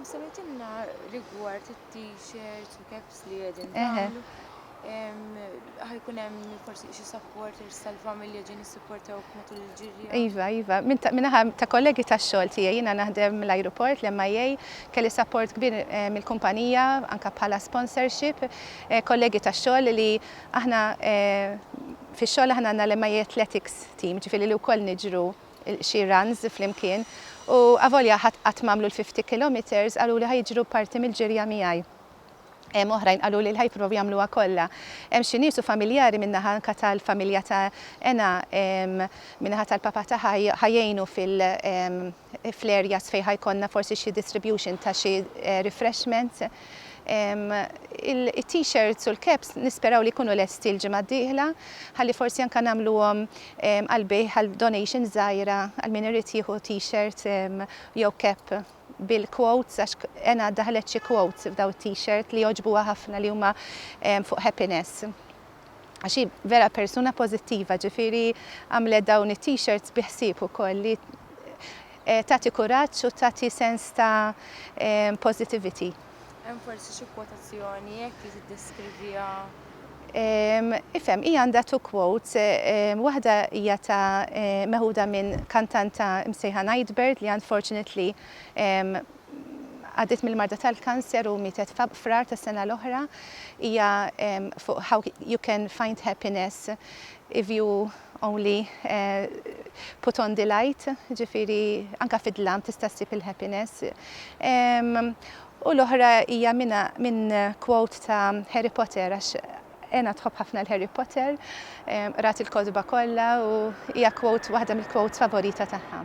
Semmejtilna rigward it-t-shirts u caps li qegħdin tagħmlu. Ħajkun hemm forsi xi supporters tal-familja ġin issupportawk matul il-ġirja. Iva, iva, minnaħa ta' kollegi tax-xogħol tiegħi jiena naħdem l-ajruport l-MIA kelli support kbir eh, mill-kumpanija anke bħala sponsorship, eh, kollegi tax-xogħol li aħna eh, fix-xogħol aħna għandna l-MIA Athletics team, ġifieri li wkoll niġru xi runs flimkien u avolja ħadd qatt m'għamlu l-fifty kilometres qaluli ħa jiġru parti mill-ġirja miegħi. Hemm oħrajn qaluli li ħa jipprovaw jagħmluha kollha. Hemm xi nies u familjari min-naħa anke tal-familja ta' Ena min-naħa tal-papa tagħha ħa jgħinu fil fl-areas fejn ħa jkollna forsi xi distribution ta' xi refreshments. It-T-shirts u l-caps nisperaw li jkunu lesti l-ġimgħa d-dieħla ħalli forsi anke nagħmluhom għall-bejgħ għal donations żgħira għal min irid jieħu T-shirt jew cap bil-quotes għax Ena daħlet xi quotes f'dawn it-T-shirt li għoġbuha ħafna li huma fuq happiness. għax hi vera persuna pożittiva, ġifieri għamlet dawn it-t-shirts bi ħsieb ukoll li tagħti kuraġġ u tagħti sens ta' positivity. Hemm forsi xi kwotazzjoni hekk li tiddeskriviha? Ifhem, hija għandha two quotes, waħda hija ta' meħuda minn kantanta msejħa Nightbird li unfortunately Għaddiet mill-marda tal-kanser u mietet f'Frar tas-sena l-oħra. Hija fuq How You Can Find Happiness If You Only Put On The Light, ġifieri anke fid-dlam tista' ssib il-happiness. U l-oħra hija minn quote ta' Harry Potter għax Anna tħobb ħafna l-Harry Potter, qrat il-kotba kollha u hija quote waħda mill-quotes favorita tagħha.